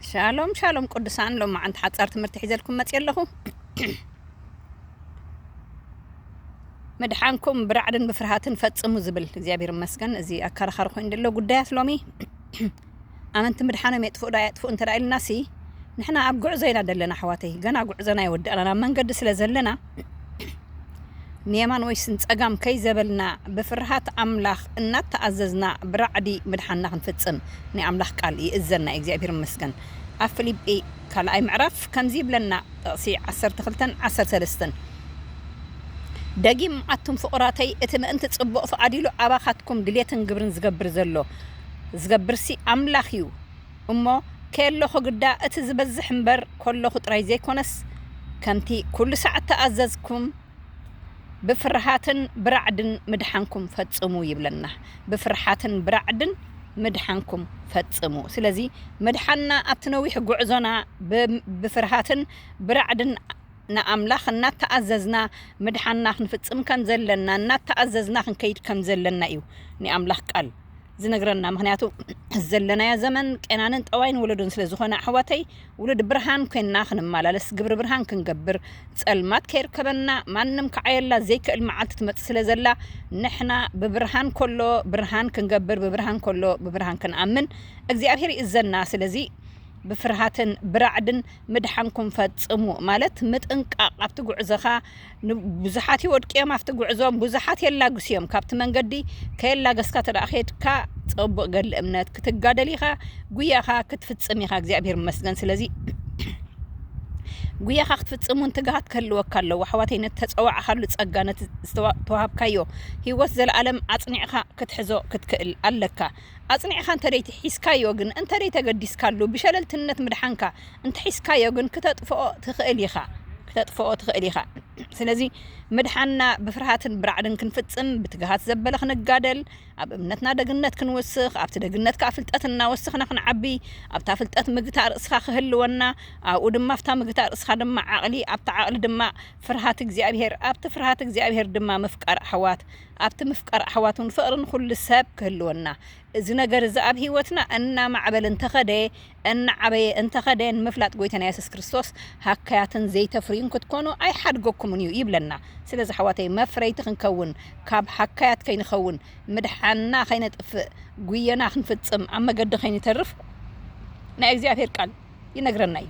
ሻሎም ሻሎም ቅዱሳን ሎም መዓንቲ ሓጻር ትምህርቲ ሒዘልኩም መጽ ኣለኹ ምድሓንኩም ብራዕድን ብፍርሃትን ፈጽሙ ዝብል እግዚኣብሔር መስገን እዚ ኣካራኻሪ ኮይኑ ዘሎ ጉዳያት ሎሚ ኣመንቲ ምድሓኖም የጥፍኡ ዶ ኣየጥፍኡ እንተ ኢልና ሲ ንሕና ኣብ ጉዕዞ ኢና ዘለና ኣሕዋተይ ገና ጉዕዞና ይወዳእና ናብ መንገዲ ስለ ዘለና ንየማን ወይስ ንጸጋም ከይዘበልና ብፍርሃት ኣምላኽ እናተኣዘዝና ብራዕዲ ምድሓንና ክንፍጽም ናይ ኣምላኽ ቃል ይእዘና እዩ። እግዚኣብሔር ይመስገን ኣብ ፊሊጲ ካልኣይ ምዕራፍ ከምዚ ይብለና ጥቕሲ ዓሰርተ ክልተን ዓሰርተ ሰለስተን ደጊም ኣቱም ፍቑራተይ እቲ ምእንቲ ጽቡቕ ፍቓድ ኢሉ ኣባኻትኩም ድሌትን ግብርን ዝገብር ዘሎ ዝገብርሲ ኣምላኽ እዩ እሞ ኬሎኹ ግዳ እቲ ዚበዝሕ እምበር ኮሎኹ ጥራይ ዘይኮነስ ከምቲ ኩሉ ሳዕ እተኣዘዝኩም ብፍርሃትን ብራዕድን ምድሓንኩም ፈጽሙ ይብለና ብፍርሓትን ብራዕድን ምድሓንኩም ፈጽሙ ስለዚ ምድሓንና ኣብቲ ነዊሕ ጉዕዞና ብፍርሃትን ብራዕድን ንኣምላኽ እናተኣዘዝና ምድሓንና ክንፍጽም ከምዘለና እናተኣዘዝና ክንከይድ ከምዘለና እዩ ናይ ኣምላኽ ቃል ዝነግረና ምክንያቱ ዘለናዮ ዘመን ቄናንን ጠዋይን ወለዶን ስለ ዝኮነ ኣሕዋተይ ውሉድ ብርሃን ኮይንና ክንማላለስ ግብሪ ብርሃን ክንገብር ጸልማት ከይርከበና ማንም ክዓየላ ዘይክእል መዓልቲ ትመጽእ ስለ ዘላ ንሕና ብብርሃን ኮሎ ብርሃን ክንገብር ብብርሃን ኮሎ ብብርሃን ክንኣምን እግዚኣብሄር ይእዘና ስለዚ ብፍርሃትን ብራዕድን ምድሓንኩም ፈጽሙ ማለት ምጥንቃቅ ኣብቲ ጉዕዞካ ብዙሓት ይወድቁ እዮም ኣብቲ ጉዕዞ ብዙሓት የላግሱ እዮም ካብቲ መንገዲ ከየላገስካ ተደኣ ከድካ ፀቡቅ ገድሊ እምነት ክትጋደል ኢኻ ጉያኻ ክትፍፅም ኢኻ እግዚኣብሔር ይመስገን ስለዚ ጉያኻ ክትፍፅም እውን ትግሃት ክህልወካ ኣለዎ ኣሕዋተይ ነቲ ተፀዋዕኻሉ ፀጋ ነቲ ዝተዋሃብካዮ ሂወት ዘለኣለም ኣፅኒዕኻ ክትሕዞ ክትክእል ኣለካ ኣጽኒዕካ እንተደይት ሒዝካዮ ግን እንተደይ ተገዲስካሉ ብሸለልትነት ምድሓንካ እንተሒዝካዮ ግን ክተጥፍኦ ትኽእል ኢኻ ክተጥፍኦ ትኽእል ኢኻ ስለዚ ምድሓንና ብፍርሃትን ብራዕድን ክንፍጽም ብትግሃት ዘበለ ክንጋደል ኣብ እምነትና ደግነት ክንውስኽ ኣብቲ ደግነት ከኣ ፍልጠት እናወስኽና ክንዓቢ ኣብታ ፍልጠት ምግታእ ርእስኻ ክህልወና ኣብኡ ድማ ኣብታ ምግታእ ርእስኻ ድማ ዓቕሊ ኣብቲ ዓቕሊ ድማ ፍርሃት እግዚኣብሄር ኣብቲ ፍርሃት እግዚኣብሄር ድማ ምፍቃር ኣሕዋት ኣብቲ ምፍቃር ኣሕዋት እውን ፍቕሪ ንዅሉ ሰብ ክህልወና፣ እዚ ነገር እዚ ኣብ ህይወትና እናማዕበለ እንተ ኸደ፣ እናዓበየ እንተ ኸደ፣ ንምፍላጥ ጐይታና የሱስ ክርስቶስ ሃካያትን ዘይተፍርዩን ክትኰኑ ኣይሓድገኩምን እዩ ይብለና። ስለዚ ኣሕዋተይ መፍረይቲ ክንከውን፣ ካብ ሃካያት ከይንኸውን፣ ምድሓንና ከይነጥፍእ፣ ጕየና ክንፍጽም ኣብ መገዲ ከይንተርፍ ናይ እግዚኣብሄር ቃል፣ ይነግረና እዩ።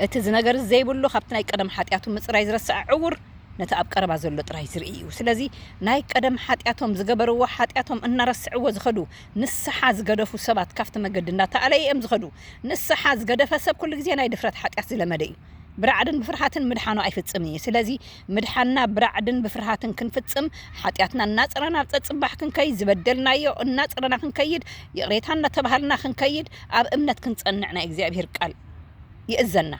እቲ ዝነገር ዘይብሉ ካብቲ ናይ ቀደም ሓጢኣቱ ምፅራይ ዝረስዐ ዕውር ነቲ ኣብ ቀረባ ዘሎ ጥራይ ዝርኢ እዩ ስለዚ ናይ ቀደም ሓጢኣቶም ዝገበርዎ ሓጢኣቶም እናረስዕዎ ዝኸዱ ንስሓ ዝገደፉ ሰባት ካብቲ መገዲ እናተኣለየ እዮም ዝኸዱ ንስሓ ዝገደፈ ሰብ ኩሉ ግዜ ናይ ድፍረት ሓጢኣት ዝለመደ እዩ ብራዕድን ብፍርሃትን ምድሓኑ ኣይፍፅምን እዩ ስለዚ ምድሓንና ብራዕድን ብፍርሃትን ክንፍጽም፣ ሓጢኣትና እናጸረና ናብ ጸጽባሕ ክንከይድ፣ ዝበደልናዮ እናጸረና ክንከይድ፣ ይቕሬታ እናተባሃልና ክንከይድ፣ ኣብ እምነት ክንጸንዕ ናይ እግዚኣብሔር ቃል ይእዘና።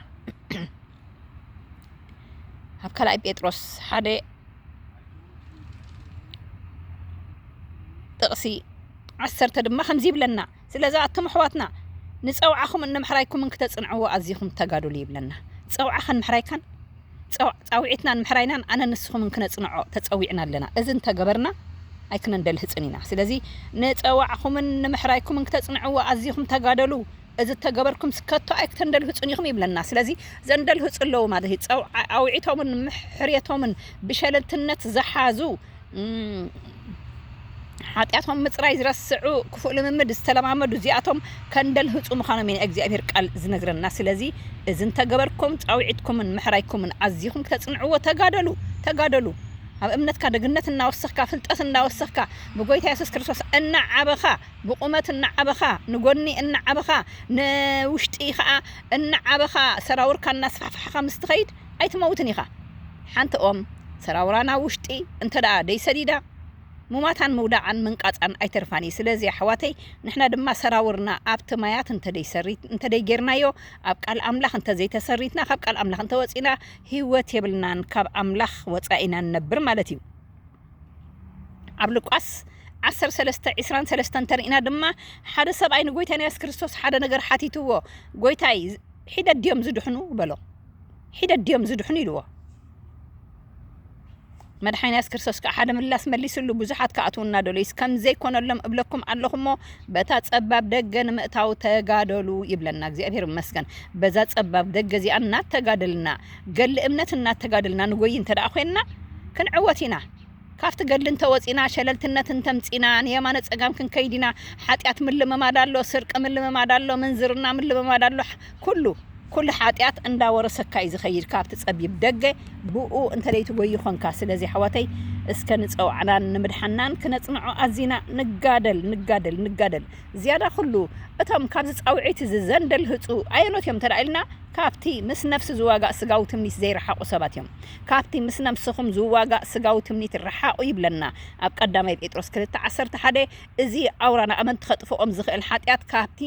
ኣብ ካልኣይ ጴጥሮስ ሓደ ጥቕሲ ዓሰርተ ድማ ከምዚ ይብለና፣ ስለዚ ኣቱም ኣሕዋትና ንጸውዓኹምን ንምሕራይኩምን ክተጽንዕዎ ኣዚኹም ተጋደሉ ይብለና። ጸውዓኻን ምሕራይካን ጻውዒትናን ምሕራይናን ኣነን ንስኹምን ክነጽንዖ ተጸዊዕና ኣለና። እዚ እንተ ገበርና ኣይክነንደልህጽን ኢና። ስለዚ ንጸዋዕኹምን ንምሕራይኩምን ክተጽንዕዎ ኣዚኹም ተጋደሉ እዚ እተ ገበርኩምስ ከቶ ኣይክተንደልህጹን ኢኹም ይብለና። ስለዚ ዘንደልህጹ ኣለዉ ማለት እዩ። ጸውዓዊዒቶምን ምሕርየቶምን ብሸለልትነት ዝሓዙ ሓጢኣቶም ምጽራይ ዝረስዑ ክፉእ ልምምድ ዝተለማመዱ እዚኣቶም ከንደልህጹ ምዃኖም እዩ ናይ እግዚኣብሔር ቃል ዝነግረና ስለዚ እዚ እንተገበርኩም ጻውዒትኩምን ምሕራይኩምን ኣዚኹም ክተጽንዕዎ ተጋደሉ ተጋደሉ ኣብ እምነትካ ደግነት እናወሰኽካ ፍልጠት እናወሰኽካ ብጎይታ የሱስ ክርስቶስ እናዓበኻ ብቑመት እናዓበኻ ንጎኒ እናዓበኻ ንውሽጢ ከዓ እናዓበኻ ሰራውርካ እናስፋሕፋሕኻ ምስ ትኸይድ ኣይትመውትን ኢኻ ሓንቲ ኦም ሰራውራ ናብ ውሽጢ እንተ ደይሰዲዳ ሙማታን ምውዳቃን ምንቃጻን ኣይተርፋን እዩ ስለዚ ኣሕዋተይ ንሕና ድማ ሰራውርና ኣብቲ ማያት እንተ ደይሰሪት እንተ ደይጌርናዮ ኣብ ቃል ኣምላኽ እንተ ዘይተሰሪትና ካብ ቃል ኣምላኽ እንተ ወጺና ሂወት የብልናን ካብ ኣምላኽ ወጻኢ ኢና ንነብር ማለት እዩ ኣብ ሉቃስ ዓሰርተ ሰለስተ ዕስራን ሰለስተን እንተሪእና ድማ ሓደ ሰብኣይ ንጎይታና የሱስ ክርስቶስ ሓደ ነገር ሓቲትዎ ጎይታይ ሒደት ድዮም ዝድሕኑ በሎ ሒደት ድዮም ዝድሕኑ ኢልዎ መድሓኒ የሱስ ክርስቶስ ከዓ ሓደ ምላስ መሊስሉ ብዙሓት ክኣትዉ እናደለዩስ ከም ዘይኮነሎም እብለኩም ኣለኹ እሞ በታ ጸባብ ደገ ንምእታው ተጋደሉ ይብለና። እግዚኣብሔር ይመስገን በዛ ጸባብ ደገ እዚኣ እናተጋደልና ገድሊ እምነት እናተጋደልና ንጎዪ እንተድኣ ኮይንና ክንዕወት ኢና። ካብቲ ገድሊ እንተወጺእና ሸለልትነት እንተምጺእና ንየማነ ጸጋም ክንከይድ ኢና። ሓጢኣት ምልምማድ ኣሎ፣ ስርቂ ምልምማድ ኣሎ፣ ምንዝርና ምልምማድ ኣሎ፣ ኩሉ። ኩሉ ሓጢኣት እንዳወረሰካ እዩ ዝኸይድ ካብቲ ጸቢብ ደገ። ብእኡ እንተደይትጎዪ ኾንካ። ስለዚ ኣሕዋተይ እስከ ንጸዋዕናን ንምድሓንናን ክነጽንዖ ኣዚና ንጋደል ንጋደል ንጋደል። ዝያዳ ኹሉ፣ እቶም ካብዚ ጻውዒት እዚ ዘንደልህጹ ኣየኖት እዮም እንተ ኢልና፣ ካብቲ ምስ ነፍሲ ዝዋጋእ ስጋዊ ትምኒት ዘይረሓቑ ሰባት እዮም። ካብቲ ምስ ነፍስኹም ዝዋጋእ ስጋዊ ትምኒት ርሓቑ ይብለና ኣብ ቀዳማይ ጴጥሮስ ክልተ ዓሰርተ ሓደ። እዚ ኣውራ ንኣመንቲ ከጥፍኦም ዝኽእል ሓጢኣት ካብቲ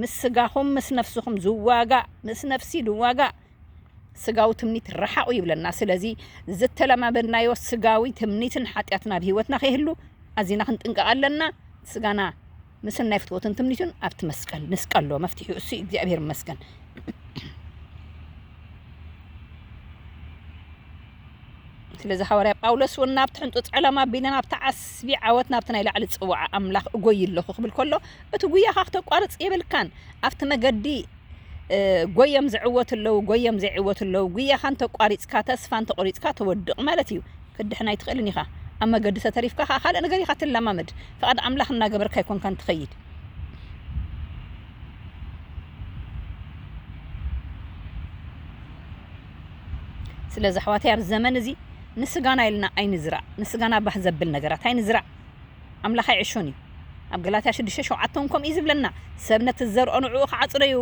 ምስ ስጋኹም ምስ ነፍስኹም ዝዋጋእ ምስ ነፍሲ ዝዋጋእ ስጋዊ ትምኒት ርሓቑ ይብለና። ስለዚ ዝተለማመድናዮ ስጋዊ ትምኒትን ሓጢኣትን ኣብ ህይወትና ከይህሉ ኣዚና ክንጥንቀቕ ኣለና። ስጋና ምስናይ ፍትወትን ትምኒቱን ኣብቲ መስቀል ንስቀሎ። መፍትሒኡ እሱ እዩ። እግዚኣብሔር ይመስገን። ስለዚ ሃዋርያ ጳውሎስ እውን ናብቲ ሕንጡፅ ዕላማ ኣቢለ ናብቲ ዓስቢ ዓወት ናብቲ ናይ ላዕሊ ፅዋዓ ኣምላኽ እጎይ ኣለኹ ክብል ከሎ እቲ ጉያኻ ክተቋርፅ የብልካን ኣብቲ መገዲ ጎዮም ዝዕወቱ ኣለው ጎዮም ዘይዕወቱ ኣለው ጉያኻ እንተቋሪጽካ ተስፋ እንተቆሪጽካ ትወድቅ ማለት እዩ ክትድሕን ኣይትኽእልን ኢኻ ኣብ መገዲ ተተሪፍካ ከኣ ካልእ ነገር ኢኻ ትለማመድ ፍቃድ ኣምላኽ እናገበርካ ኣይኮንካን ትኸይድ ስለዚ ኣሕዋተይ ኣብ ዘመን እዚ ንስጋና ኢልና ኣይንዝራእ ንስጋና ባህ ዘብል ነገራት ኣይንዝራእ ኣምላኽ ኣይዕሾን እዩ። ኣብ ገላትያ ሽዱሽተ ሸውዓተ እውን ከምኡ እዩ ዝብለና፣ ሰብ ነቲ ዝዘርኦ ንዕኡ ክዓጽዶ እዩ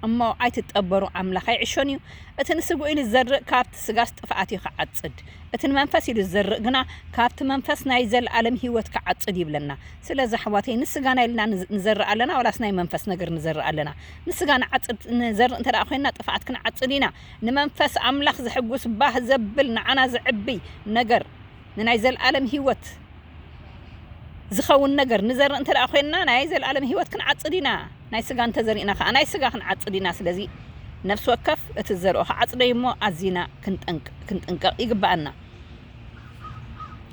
እሞ፣ ኣይትጠበሩ፣ ኣምላኽ ኣይዕሾን እዩ። እቲ ንስግኡ ኢሉ ዝዘርእ ካብቲ ስጋስ ጥፍኣት እዩ ክዓጽድ፣ እቲ ንመንፈስ ኢሉ ዝዘርእ ግና ካብቲ መንፈስ ናይ ዘለኣለም ህይወት ክዓጽድ እዩ ይብለና። ስለዚ ኣሕዋተይ ንስጋና ኢልና ንዘርእ ኣለና ዋላስ ናይ መንፈስ ነገር ንዘርእ ኣለና? ንስጋ ንዓጽድ ንዘርእ እንተ ኮይንና ጥፍኣት ክንዓጽድ ኢና። ንመንፈስ ኣምላኽ ዘሕጉስ ባህ ዘብል ንዓና ዘዕብይ ነገር። ንናይ ዘለኣለም ህይወት ዚኸውን ነገር ንዘርእ እንተ ደኣ ዄንና፣ ናይ ዘለኣለም ህይወት ክንዓጽድ ኢና፣ ናይ ስጋ እንተ ዘሪእና ኸኣ፣ ናይ ስጋ ኽንዓጽድ ኢና። ስለዚ፣ ነፍሲ ወከፍ እቲ ዝዘርኦ ኺዓጽዶ እዩ እሞ፣ ኣዚና ክንጥንቀቕ ይግብኣና።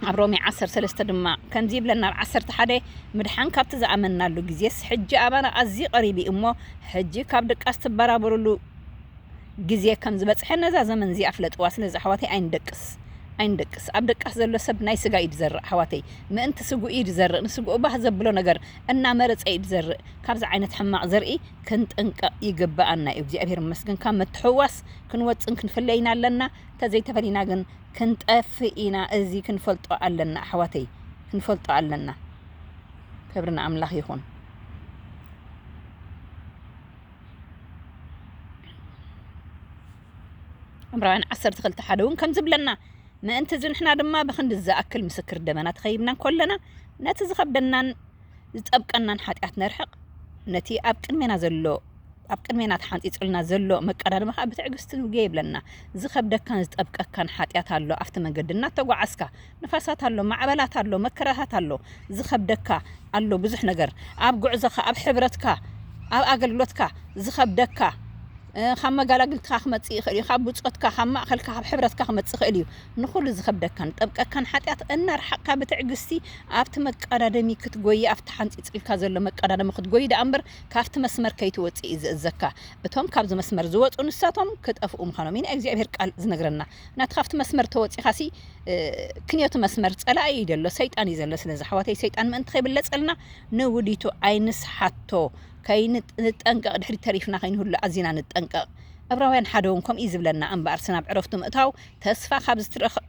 ኣብ ሮሜ ዓሰርተ ሰለስተ ድማ ከምዚ ይብለና፣ ኣብ ዓሰርተ ሓደ፣ ምድሓን ካብቲ ዝኣመንናሉ ጊዜስ፣ ሕጂ ኣባና ኣዝዩ ቐሪብ እዩ እሞ፣ ሕጂ ካብ ድቃስ ትበራበሩሉ፣ ግዜ ከም ዝበጽሐ ነዛ ዘመን እዚኣ ፍለጥዋ ስለዚ ኣሕዋተይ ኣይንደቅስ ኣይንደቅስ ኣብ ደቃስ ዘሎ ሰብ ናይ ስጋ ኢዩ ድዘርእ ኣሕዋተይ ምእንቲ ስግኡ ኢዩ ድዘርእ ንስግኡ ባህ ዘብሎ ነገር እናመረጸ ኢዩ ድዘርእ ካብዚ ዓይነት ሕማቅ ዘርኢ ክንጥንቀቅ ይግበኣና ኢዩ እግዚኣብሄር ይመስገን ካብ ምትሕውዋስ ክንወጽን ክንፍለ ኢና ኣለና ተዘይተፈሊና ግን ክንጠፍእ ኢና እዚ ክንፈልጦ ኣለና ኣሕዋተይ ክንፈልጦ ኣለና ክብሪ ንኣምላኽ ይኹን። ዕብራውያን ዓሰርተ ክልተ ሓደ እውን ከም ዝብለና ምእንቲ እዚ ንሕና ድማ ብክንዲ ዝኣክል ምስክር ደመና ተኸይብና ኮለና ነቲ ዝኸብደናን ዝጠብቀናን ሓጢኣት ነርሕቕ ነቲ ኣብ ቅድሜና ዘሎ ኣብ ቅድሜና ተሓንፂፁልና ዘሎ መቀዳድማ ከዓ ብትዕግስቲ ንጉየ ይብለና ዝኸብደካን ዝጠብቀካን ሓጢኣት ኣሎ ኣብቲ መንገዲ እናተጓዓዝካ ንፋሳት ኣሎ ማዕበላት ኣሎ መከራታት ኣሎ ዝከብደካ ኣሎ ብዙሕ ነገር ኣብ ጉዕዞካ ኣብ ሕብረትካ ኣብ ኣገልግሎትካ ዝከብደካ ካብ መጋላግልትካ ክመጽእ ይክእል እዩ ካብ ብጾትካ ካብ ማእከልካ ካብ ሕብረትካ ክመጽእ ይክእል እዩ ንኩሉ ዝከብደካን ጠብቀካን ሓጢኣት እናርሓቅካ ብትዕግስቲ ኣብቲ መቃዳደሚ ክትጎይ ኣብቲ ሓንጺጽልካ ዘሎ መቃዳደሚ ክትጎይ ደኣ እምበር ካብቲ መስመር ከይትወጽእ እዩ ዝእዘካ እቶም ካብዚ መስመር ዝወጹ ንሳቶም ክጠፍኡ ምካኖም እዩ ናይ እግዚኣብሄር ቃል ዝነግረና ናቲ ካብቲ መስመር ተወጺኻሲ ክንዮቲ መስመር ጸላኢ እዩ ዘሎ ሰይጣን እዩ ዘሎ ስለዚ ኣሕዋተይ ሰይጣን ምእንቲ ከይብለጸልና ንውዲቱ ኣይንስሓቶ ከይንጠንቀቕ ድሕሪ ተሪፍና ከይንህሉ ኣዚና ንጠንቀቕ እብራውያን ሓደ እውን ከምኡ ዝብለና እምበኣር ስናብ ዕረፍቱ ምእታው ተስፋ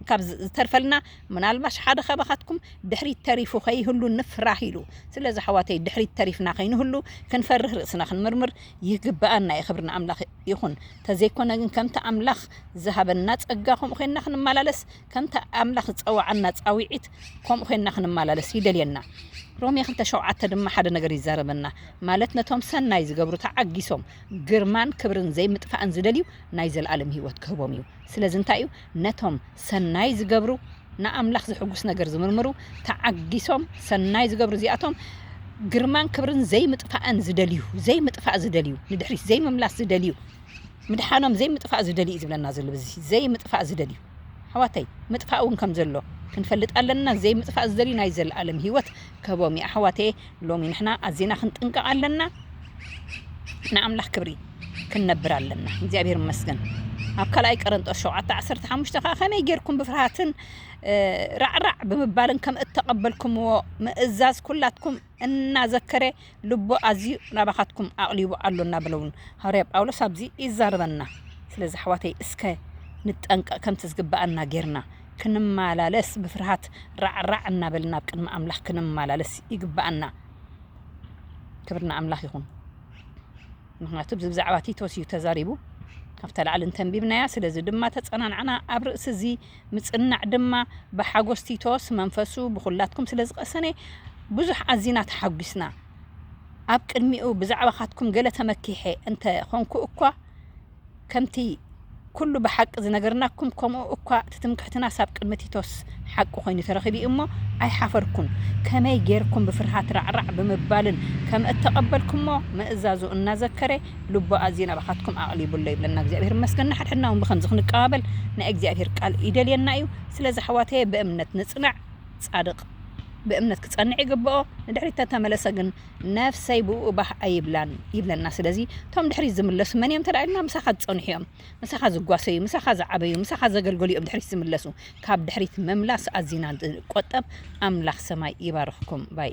ካብ ዝተርፈልና ምናልባሽ ሓደ ካባኻትኩም ድሕሪት ተሪፉ ከይህሉ ንፍራህ ኢሉ ስለዚ ኣሕዋተይ ድሕሪት ተሪፍና ከይንህሉ ክንፈርህ ርእስና ክንምርምር ይግበኣና እዩ ክብሪ ንኣምላኽ ይኹን ተዘይኮነ ግን ከምቲ ኣምላኽ ዝሃበና ጸጋ ከምኡ ዄንና ክንመላለስ ከምቲ ኣምላኽ ዝጸውዓና ጻውዒት ከምኡ ዄንና ክንመላለስ ይደልየና። ሮሜ ክልተ ሸውዓተ ድማ ሓደ ነገር ይዛረበና ማለት ነቶም ሰናይ ዝገብሩ ተዓጊሶም ግርማን ክብርን ዘይምጥፋእን ዝደልዩ ናይ ዘለኣለም ህይወት ክህቦም እዩ። ስለዚ እንታይ እዩ ነቶም ሰናይ ዚገብሩ፣ ንኣምላኽ ዜሐጕስ ነገር ዚምርምሩ፣ ተዓጊሶም ሰናይ ዚገብሩ እዚኣቶም፣ ግርማን ክብርን ዘይምጥፋእን ዚደልዩ፣ ዘይምጥፋእ ዚደልዩ፣ ንድሕሪት ዘይምምላስ ዚደልዩ፣ ምድሓኖም ዘይምጥፋእ ዚደልዩ እዩ ዚብለና ዘሎ በዚ፣ ዘይምጥፋእ ዚደልዩ። ኣሕዋተይ ምጥፋእ እውን ከም ዘሎ ክንፈልጥ ኣለና፣ ዘይምጥፋእ ዚደልዩ ናይ ዘለኣለም ህይወት ክህቦም እዩ። ኣሕዋተየ! ሎሚ ንሕና ኣዚና ክንጥንቀቅ ኣለና ንኣምላኽ ክብሪ ክንነብር ኣለና እግዚኣብሔር ይመስገን ኣብ ካልኣይ ቀረንጦስ ሸውዓተ ዓሰርተ ሓሙሽተ ከዓ ከመይ ጌርኩም ብፍርሃትን ራዕራዕ ብምባልን ከም እተቐበልኩምዎ ምእዛዝ ኩላትኩም እናዘከረ ልቦ ኣዝዩ ናባኻትኩም ኣቕሊቡ ኣሎ እናበለውን ሃዋርያ ጳውሎስ ኣብዚ ይዛረበና። ስለዚ ኣሕዋተይ እስከ ንጠንቀቕ ከምቲ ዝግብኣና ጌርና ክንመላለስ ብፍርሃት ራዕ ራዕ እናበልና ኣብ ቅድሚ ኣምላኽ ክንመላለስ ይግብኣና። ክብሪ ንኣምላኽ ይኹን። ምኽንያቱ እዚ ብዛዕባ ቲቶስ እዩ ተዛሪቡ ካብታ ላዕሊ እንተንቢብናያ ስለዚ ድማ ተጸናንዕና ኣብ ርእሲ እዚ ምጽናዕ ድማ ብሓጎስ ቲቶስ መንፈሱ ብኹላትኩም ስለ ዝቐሰነ ብዙሕ ኣዚና ተሓጒስና ኣብ ቅድሚኡ ብዛዕባኻትኩም ገለ ተመኪሐ እንተ ኾንኩ እኳ ከምቲ ኩሉ ብሓቂ ዝነገርናኩም ከምኡ እኳ እቲ ትምክሕትናስ ኣብ ቅድሚ ቲቶስ ሓቂ ኮይኑ ተረኺቡ እዩ እሞ ኣይሓፈርኩን ከመይ ጌርኩም ብፍርሃት ራዕራዕ ብምባልን ከም እተቐበልኩሞ ምእዛዙ እናዘከረ ልቡ ኣዝዩ ናባኻትኩም ኣቕሊቡ ኣሎ ይብለና እግዚኣብሔር ይመስገን ንሓድሕድና እውን ብከምዚ ክንቀባበል ናይ እግዚኣብሔር ቃል ይደልየና እዩ ስለዚ ኣሕዋተየ ብእምነት ንጽናዕ ጻድቕ ብእምነት ክጸንዕ ይግብኦ ንድሕሪት ተተመለሰ ግን ነፍሰይ ብእኡ ባህ ኣይብላን ይብለና ስለዚ እቶም ድሕሪት ዝምለሱ መን እዮም እንተ ኢልና ምሳኻ ዝጸንሑ እዮም ምሳኻ ዝጓሰዩ ምሳኻ ዝዓበዩ ምሳኻ ዘገልገሉ እዮም ድሕሪት ዝምለሱ ካብ ድሕሪት ምምላስ ኣዚና ቆጠብ ኣምላኽ ሰማይ ይባርኽኩም ባይ